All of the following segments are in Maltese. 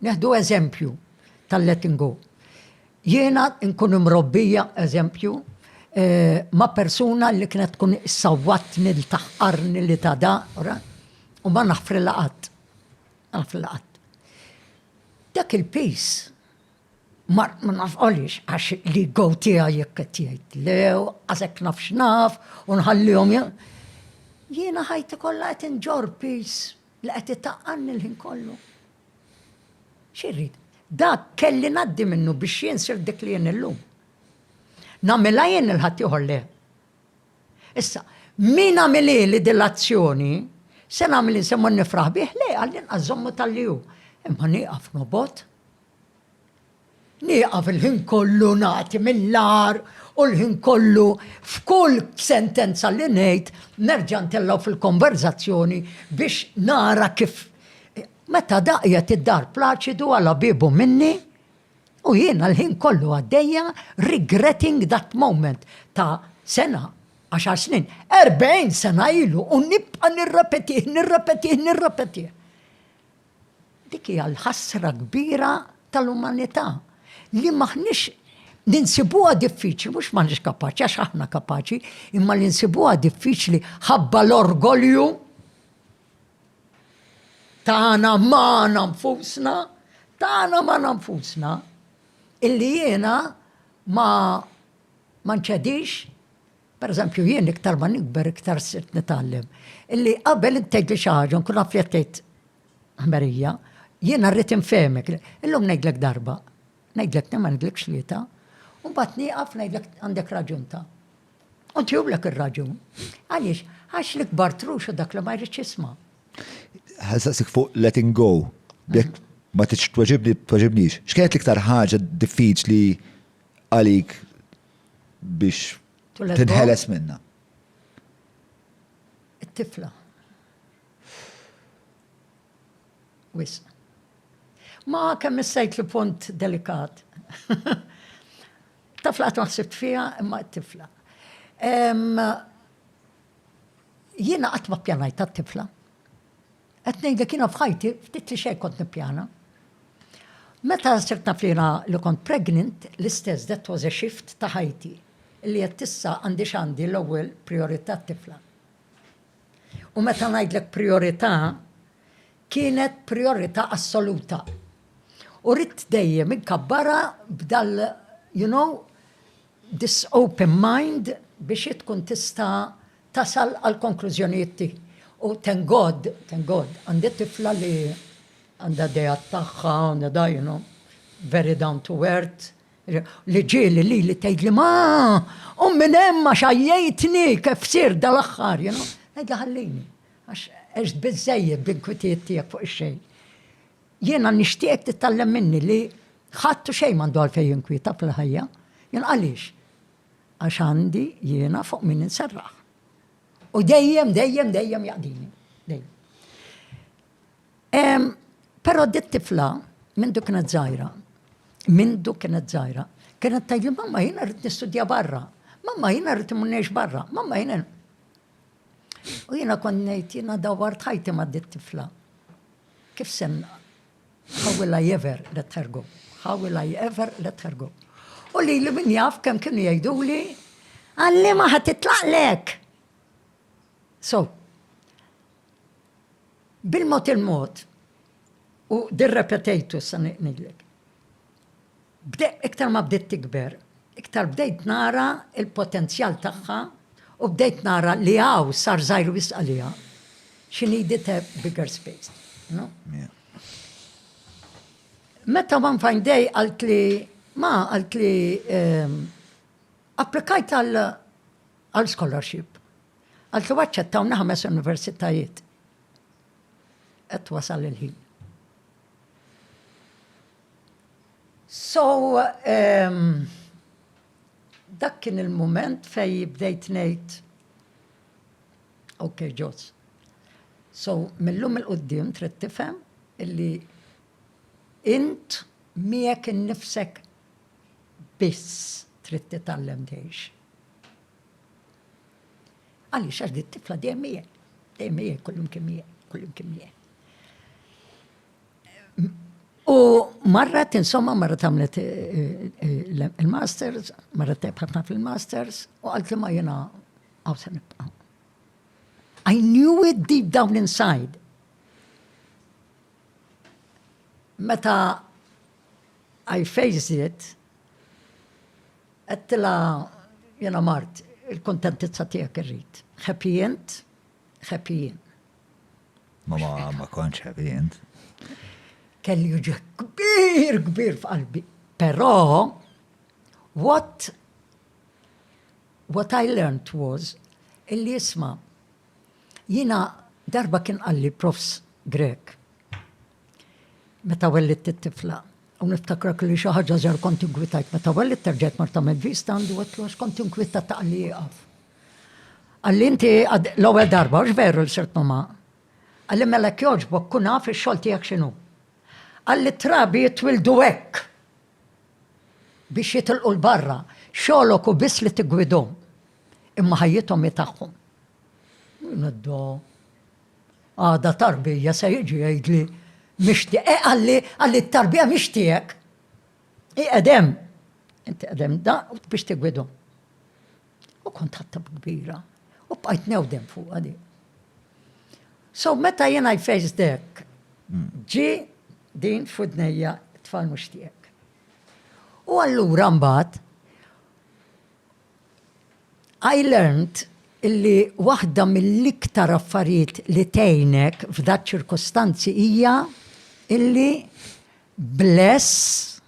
Neħdu eżempju tal-letting go. Jiena nkun imrobbija eżempju eh, ma' persuna li kienet tkun sawwatni li taħqarni li ta' da, u ma naħfri laqat. Naħfri laqat. Dak il-pis ma nafqolix għax li go tija jekk qed jgħid lew, għazek naf x'naf, u nħallihom jiena ħajti kollha qed inġor pis Li qed itaqqanni l-ħin kollu. Xi rrid? Dak kelli ngħaddi minnu biex jien sirt dik li jien illum. Nagħmilha jien lil ħaddieħor le. Issa, min għamilili din l-azzjoni, se nagħmel se mmur nifraħ bih? Le, għall-inqas żommu tal-li hu. Imma nieqaf nobgħod. Nieqaf il-ħin kollu nagħti mill-agħar u l-ħin kollu f'kull sentenza li ngħid nerġa' ntellgħu fil-konverżazzjoni biex nara kif Meta daqjet id-dar Plaċidu għala biebu minni u jiena l-ħin kollu għaddejja regretting that moment ta' sena, għaxar snin, erbgħin sena ilu u nibqa' nirrepetih, nirrepetih, nirrepetih. Dik hija l-ħasra kbira tal-umanità li m'aħniex ninsibuha diffiċli, mhux m'aħniex kapaċi, għax aħna kapaċi, imma li nsibuha diffiċli ħabba l-orgolju tagħna magħna nfusna, tagħna magħna nfusna, illi jiena ma ma nċedix Pereżempju, jien iktar ma nikber iktar sirt nitgħallem illi qabel int tgħidli xi ħaġa nkun naf li qed tgħid ħmerija, jiena rrid infehmek. Illum ngħidlek darba, ngħidlek tnejn ma ngħidlekx tlieta, u mbagħad nieqaf ngħidlek għandek raġun ta'. U ntihulek ir-raġun. Għaliex? Għax l-ikbar trux u dak li ma jridx jisma'. Ħassaqsik fuq letting go. Jekk ma tridx tweġibni, tweġibnix. X'kienet l-iktar ħaġa diffiċli għalik biex tinħeles minna? It-tifla. Wis. Ma kemm issejt li punt delikat. Tafla qatt maħsibt fija imma t-tifla. Jiena qatt ma pjanajt tat-tifla. Qed ngħidlek jiena f'ħajti ftit li xejn kont nippjana. Meta sirt naf li jiena li kont pregnant, l-istess that was a shift ta' ħajti, illi għedt issa għandi x'għandi l-ewwel prijorità t-tifla. U meta ngħidlek prijorità, kienet prijorità assoluta. U ridt dejjem inkabbarha b'dal you know, this open mind biex hi tkun tista' tasal għall-konklużjonijiet tiegħi. U thank God, thank God, għandi tifla li għandha ideat tagħha, you know, very down to earth, li ġieli lili tgħidli ma qum minn hemm għax għajjejtni kif sirt dal-aħħar, you know. Ngħidilha ħallini, għax għext biżżejjed bl-inkwitijiet tiegħek fuq ix-xejn. Jiena nixtieqek titgħallem minni li ħadd u xejn m'għandu għalfejn jinkwieta fil-ħajja. Jien għaliex? Għax għandi jiena fuq min inserraħ. U dejjem, dejjem, dejjem jaqdini. Dejjem. Però dit tifla minn duk kienet żgħira. Minn duk kienet żgħira. Kienet tajli mamma jiena rrid nistudja barra. Mamma jiena rrid immunnex barra. Mamma jiena. U jiena kont ngħid jiena dawwart ħajti ma' dit tifla. Kif semma, How will I ever let her go? How will I ever let her go? U li li min jaf kem kienu jajdu li għalli maħat titlaq lek. So, bil-mot il-mot, u dirrepetejtu sa' niqnidlek. Bdejt iktar ma bdiet tikber, iktar bdejt nara l-potenzjal tagħha u bdejt nara li hawn sar żgħir wisq għaliha. She needed a bigger space, you know? Meta one fine day qaltli, ma qaltli ehm, applikajt għal scholarship. Qaltli waċċettawni ħames universitajiet. Qed wasal il-ħin. So, ehm, dak kien il-mument fej bdejt ngħid, ok, ġos. So, millum il-qoddim trid tifhem illi int miegħek innifsek biss trid titgħallem tgħix. Għaliex għax dit tifla dejjem miegħek, dejjem miegħek, kullum kien miegħek, kullum kien miegħek. U marret, insomma, marret għamlet eh, eh, il-masters, marret tebħatna fil-masters, u għalt li ma jena għaw se nibqa. I knew it deep down inside. Meta I faced it, għattila jena mart, il-kontentizza tijak irrit. Happy end, happy end. Ma ma ma kontx heavy int. Kelli uġieħ kbir kbir f'qalbi. Però what what I learned was illi jisma' jiena darba kien qalli profs Grek meta wellitt it-tifla. U niftakra kelli xi ħaġa żgħar kont inkwitajt meta wellitt terġajt marta mill-vista għandu għedtlu għax kont inkwitata qalli ieqaf. Għalli inti l-ewwel darba, hux veru li sirt mama? Għalli mela jekk jogħġbok kun naf ix-xogħol tiegħek x'inhu. Għalli t-trabi jitwildu hekk biex jitilqu 'l barra, xogħlok hu biss li tiggwidhom, imma ħajjithom hi tagħhom. Nedda, għada tarbija se jiġi jgħidli mixtieq, eh, għalli għalli t-tarbija mixtieq. Iqedem, inti qedem da biex tigwidhom. U kont ħatta kbira. U bqajt newdem fuq għadi. So meta jen I faced dek, ġi din fudnejja tfal mux tijek. U allura mbat, I learned illi waħda mill-iktar affarijiet li tejnek f'dat ċirkostanzi hija illi bless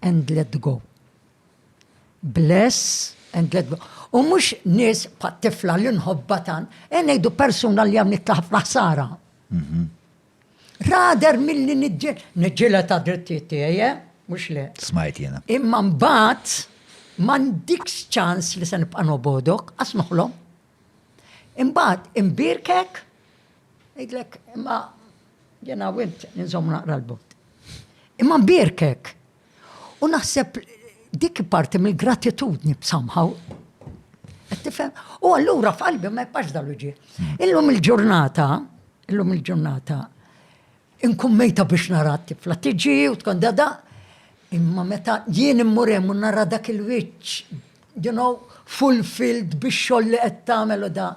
and let go. Bless and let go. U mhux nies pat tifla li nħobba tan, e ngħidu persuna li għamlet ħafna ħsara. Mhm. Rader milli niġġel, niġġela ta' drittijiet tiegħi, eh? mhux le. Smajt jiena. Imma mbagħad m'għandikx ċans li se nibqa' nobodok, għas noħlom. Imbagħad imbierkek, jgħidlek imma jena wint ninżomm naqra l-bot. Imma mbierkek. U naħseb dik parti mill-gratitudni somehow. Tifhem? U allura f'qalbi ma jibqax dal-uġi. Illum il-ġurnata, illum il-ġurnata, Inkun mejta biex nara t-tifla tiġi u tkun da da, imma meta jien immur hemm u nara dak il-wiċċ, you know, fulfilled bix-xogħol li qed tagħmel u da,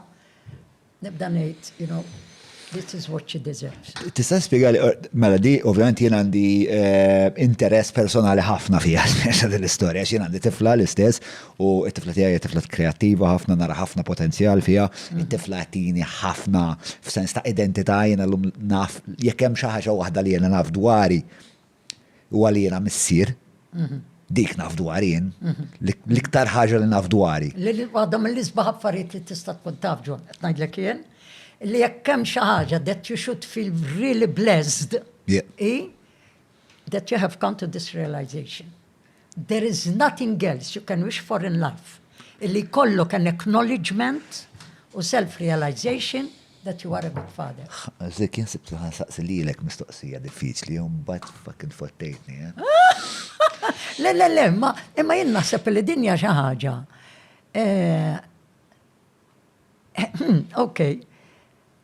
nibda ngħid, you know, this is what she deserves. Tista' spjegali, mela di ovvjament jien għandi eh, interess personali ħafna fiha din l-istorja, x'jien għandi tifla l-istess U t-tifla tiegħi hija tifla kreattiva ħafna, nara ħafna potenzjal fiha. Mm. It-tifla tini ħafna f'sens ta' identità jiena llum naf jekk hemm xi ħaġa waħda li jiena naf dwari u għal jiena missier. Mhm. Dik naf dwar jien. Mhm. L-iktar ħaġa li naf dwari. Għadhom mill-isbaħ affarijiet li tista' tkun taf ġon, qed ngħidlek jien, li jekk hemm xi ħaġa that you should feel really blessed, that you have come to this realization. There is nothing else you can wish for in life illi jkollok an acknowledgement u self realization that you are a good father. Zik jien sibtu ħan saqsi lilek mistoqsija diffiċli u mbagħad fucking fottejtni. Le le le, ma imma jien naħseb li dinja xi ħaġa. Eh, eh, hmm, okay.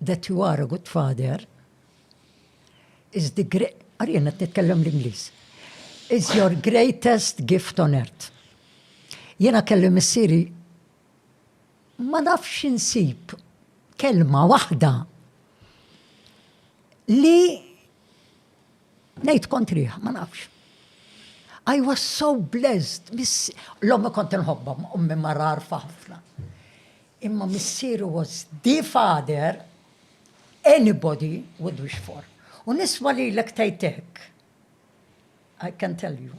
That you are a good father is the great... Għari jenna t-nitkellem l-Inglis. Is your greatest gift on earth. Jena kelli missiri ma nafx insib kelma wahda li Ngħid kontrih, ma nafx. I was so blessed. L-ommi kont nħobba, ommi marar ħafna. Imma missiru was the father anybody would wish for. U nisma li l-ek tajtek. I can tell you.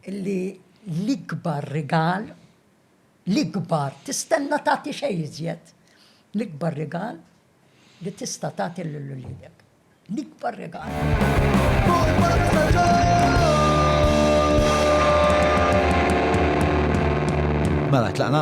Illi l-ikbar rigal, l-ikbar, tistenna tagħti xejn iżjed. L-ikbar rigal li tista' tagħti lil uliedek. L-ikbar regal. Mela tlaqna?